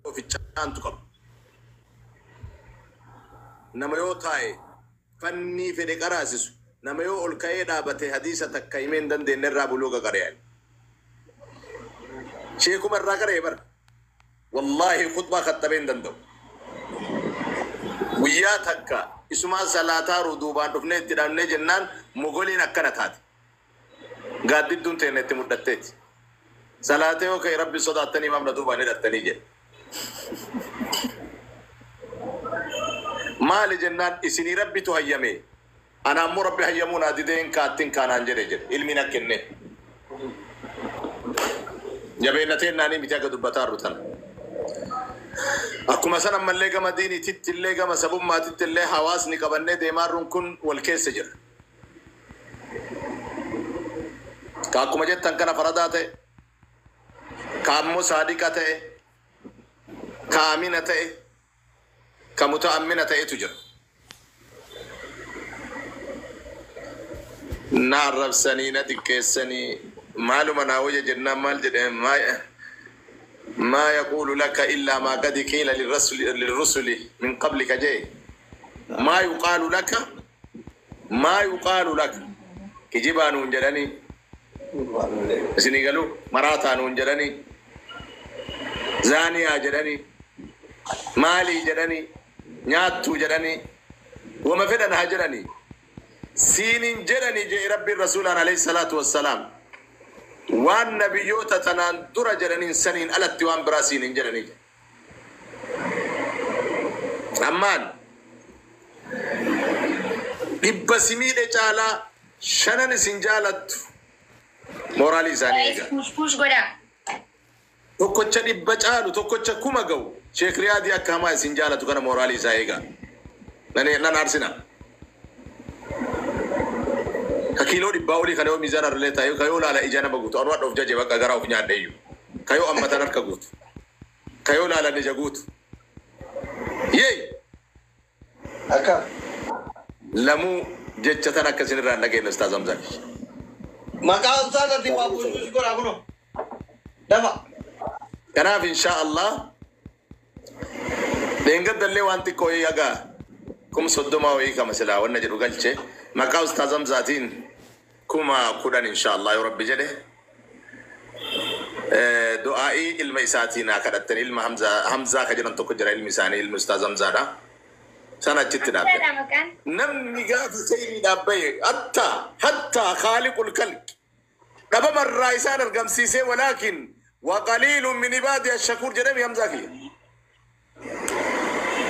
ofichaantu qaba. Nama yoo taa'e fannii fedhe qaraasisu, nama yoo ol ka'ee dhaabate hadiisa takka himee hin dandeenye irraa buluuga qara'e ani. Sheekuma irraa qara'e bara. Wallaahi khutbaa khattabee hin danda'u. Guyyaa takka isumaa salaataaru duubaan dhufnee itti dhaabnee jennaan mogoliin akkana taate. gaaddidduun teenna itti mudhatteeti. Salaatee yoo ka'e Rabbi sodaattanii maaf na duubaan hidhattanii jedhe. Maali jennaan isinii Rabbitu hayyame, ana ammoo Rabbi hayyamuu naa didee hin ka'a attin ka'a naan jedhe jedhe. Ilmii na kenne. Jabeenna teennaanii miti haga dubbataarru tana. Akkuma san ammallee gama diiniitittillee gama sabummaatittillee hawaasni qabannee deemaarrun kun wal keessa jira. Ka akkuma jettan kana faradaa ta'e, ka ammoo saadiqa ta'e, ka amina ta'e, ka muta'ammina ta'etu jira. Na arrabsanii, na xiqqeessanii, maaluma naa wayya jennaan maal jedhe, maa, maa yaquulu laka illaa maa qad qiila lirrasuli, lirrusuli min qablika jee, maa yuqaalu laka, Maa yuqaalu laka? Kijibaa nuun jedhanii? Isinii galuu? Maraataa nuun jedhanii? Zaaniyaa jedhanii? Maalii jedhanii? Nyaattuu jedhanii? Woma fedhan haa jedhanii? Siin hin jedhanii je'e Rabbiin Rasuulaan aleyh salaatu wassalaam. Waan nabiyyoota tanaan dura jedhaniin saniin alatti waan biraa siin hin jedhanii je'e. Ammaan dhibba si miidhe caalaa shanan isin jaalattu mooraalii isaanii Guys, eegaa. push push godha. Tokkocha dhibba caalu tokkocha kuma ga'u Sheek Riyaadii akka hamaa isin jaalatu kana mooraalii isaa eegaa. Nan nan aarsina. Ka kiiloo dhibbaa olii kana yoo miizaan arlee taa'e ka yoo laala ija nama guutu anu hadha of jaje bakka garaa of nyaadhe iyyuu. Ka yoo ammatan harka guutu. Kayoo laalan ija guutu. Yey! Akka. Lamuu jecha tana akka isin irraa hin dhageenne ustaaz Hamzaa kiyya. Maqaa ustaazatiin waa buusuun si godhaa kunoo. Dafa. Kanaaf inshaa Allah dheengadda illee waan xiqqoo wayii haga kum soddomaa wayii kama silaa wanna jedhu galche maqaa ustaaz Hamzaatiin kuma kudhan inshallah yoo rabbi jedhe du'aa'i ilma isaatii naa kadhattan ilma hamza hamzaa ka jedhan tokko jira ilmi isaanii ilmi ustaaz hamzaadha sana achitti dhaabbe namni gaafa sayniidhaaf bahe hatta hatta khaaliqul kalqi dhabama irraa isaan argamsiisee walaakin waqaliilun min ibaadi ashakuur jedhami hamzaa kiyya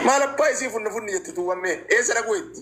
maal abbaa isii funna funni jette tuuwammee eessa dhaquu itti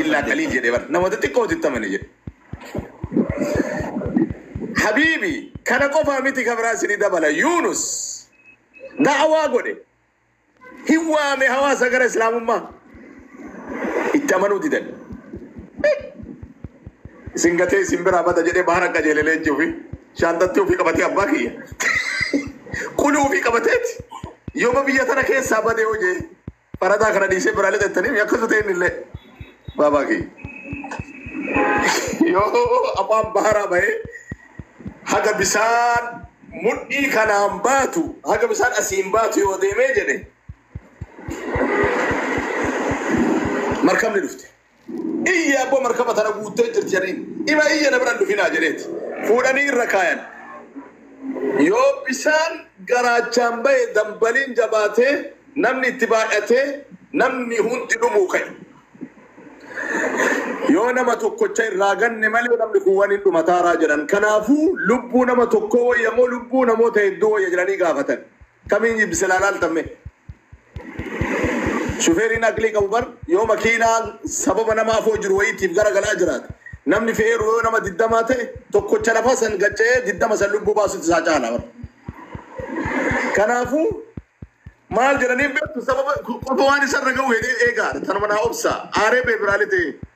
Illaa qaliil jedhe bar namoota xiqqootu itti amane jedhe. Habiibi kana qofaa miti kan biraa sini dabala Yuunus da'awaa godhe hin waame hawaasa gara islaamummaa itti amanuu didan. Isin gatee isin biraa bada jedhee bahara qajeele leenci ofii shaanxatti ofii qabatee abbaa kiyya. Quluu ofii qabateeti yooma biyya tana keessaa badee hojee Barataa kana dhiisee biraa lixattanii mi akka sutee innillee baabaa kiyya. Yoo afaan baharaa bahee haga bisaan mudhii kanaan baatu haga bisaan asiin baatu yoo deemee jedhe markabni dhufte. Iyye abbo markaba tana guuttee jirti jedhaniin. Ima iyye na bira hin dhufinaa jedheeti. Fuudhanii irra kaayan. Yoo bishaan garaachaan bahe dambaliin jabaatee namni itti baay'atee namni hundi dhumuu ka'e. Yoo nama tokkocha irraa ganne malee namni kun waliin dhumataaraa jedhan. Kanaafuu lubbuu nama tokkoo wayya moo lubbuu namoota hedduu wayya jedhanii gaafatan. Kamiin jibbise laalaaltamme. Shufeeriin aqlii qabu bar yoo makiinaa sababa nama afoo jiru wayiitiif gara galaa jiraate namni fe'eeru yoo nama digdamaa ta'e tokkocha lafa san gacca'ee digdama san lubbuu baasutti isaa caala bar. Kanaafuu maal jedhaniin beektu sababa qofa waan isarra ga'u hedee eegaadha tanuma naa obsaa aaree beebiraalee ta'ee.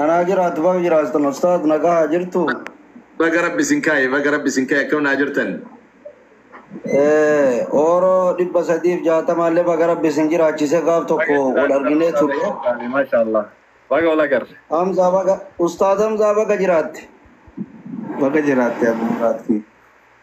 Anaa jiraatu baga jiraatan ustaaz nagahaa jirtu. Baga rabbi isin kaaye baga rabbi isin kaaye akkam naa jirtan. Eh, Ooroo dhibba sadiif jaatamaa illee baga rabbi isin jiraachise gaaf tokko wal arginee turre. Maashaallah. Baga wal agarre. Hamzaa baga ustaaz Hamzaa baga jiraatte. Baga jiraatte Abdulmuraad kiyya.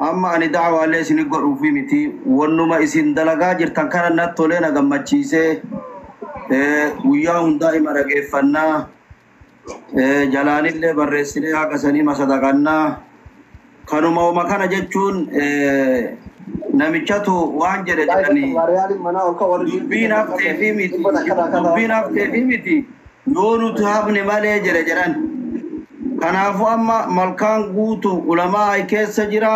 Amma ani da'awaalee isinii godhuufii miti, wannuma isin dalagaa jirtan kana natti tolee na gammachiisee, guyyaa hundaa ima dhageeffanna, jalaanillee barreessinee haga sanii ima sadaqanna, kanuma woma kana jechuun namichatu waan jedhe jedhanii, dubbiin hafteefii miti, dubbiin hafteefii miti, Yoo nuti hafne malee jedhe jedhan. Kanaafu amma malkaan guutu ulamaa ay keessa jira,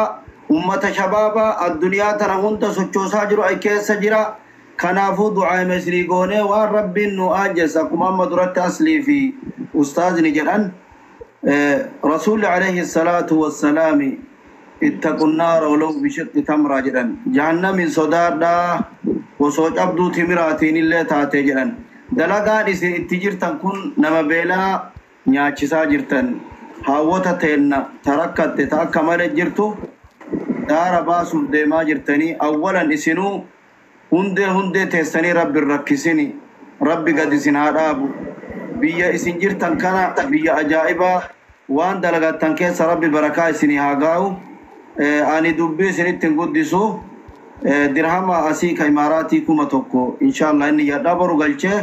ummata shabaaba adduniyaa tana hunda sochoosaa jiru ay keessa jira. Kanaafu du'aima isinii goonee waan Rabbiin nuu aanjesse akkuma amma duratti Aslii fi ustaazni jedhan. Rasuulli aleyhi salaatu wassalaami ittaqun naara walaw bishiqqi tamraa jedhan. Jahannamiin sodaadhaa osoo cabduu timiraatiinillee taatee jedhan. Dalagaan isin itti jirtan kun nama beelaa nyaachisaa jirtan. Haawwota teenna ta rakkatte ta akka male jirtu daara baasuuf deemaa jirtanii awwalan isinuu Hundee hundee teessanii rabbi hin rakkisini rabbi gad isin haa dhaabu biyya isin jirtan kana biyya ajaa'ibaa waan dalagattan keessa rabbi barakaa isinii haa gaa'u ani dubbii isinitti hin guddisu dirhama asii ka imaaraatii 1000 inshallah hin niyyadha boru galchee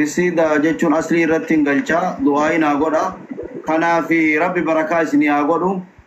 risiida jechuun aslii irrattin galchaa du'aayi naa godha kanaafi rabbi barakaa isinii haa godhu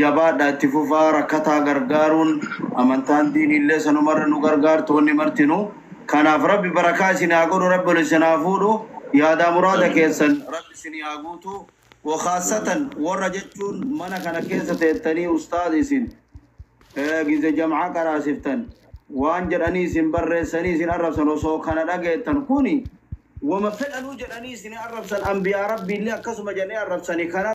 Jabaadha itti fufaa rakkataa gargaaruun amantaan diiniillee sanumarra nu gargaartu wanni martinuu kanaaf rabbi barakaa isin haa godhu rabbi ol isin haa fuudhu yaadaa muraada keessan rabbi isinii haa guutu wokaassatan worra jechuun mana kana keessa teettanii ustaaz isin gize jam'aa qaraasiftan waan jedhanii isin barreessanii isin arrabsan osoo kana dhageettan kuni woma fedhanuu jedhanii isin arrabsan anbiyaa rabbiillee akkasuma jedhanii arrabsani kana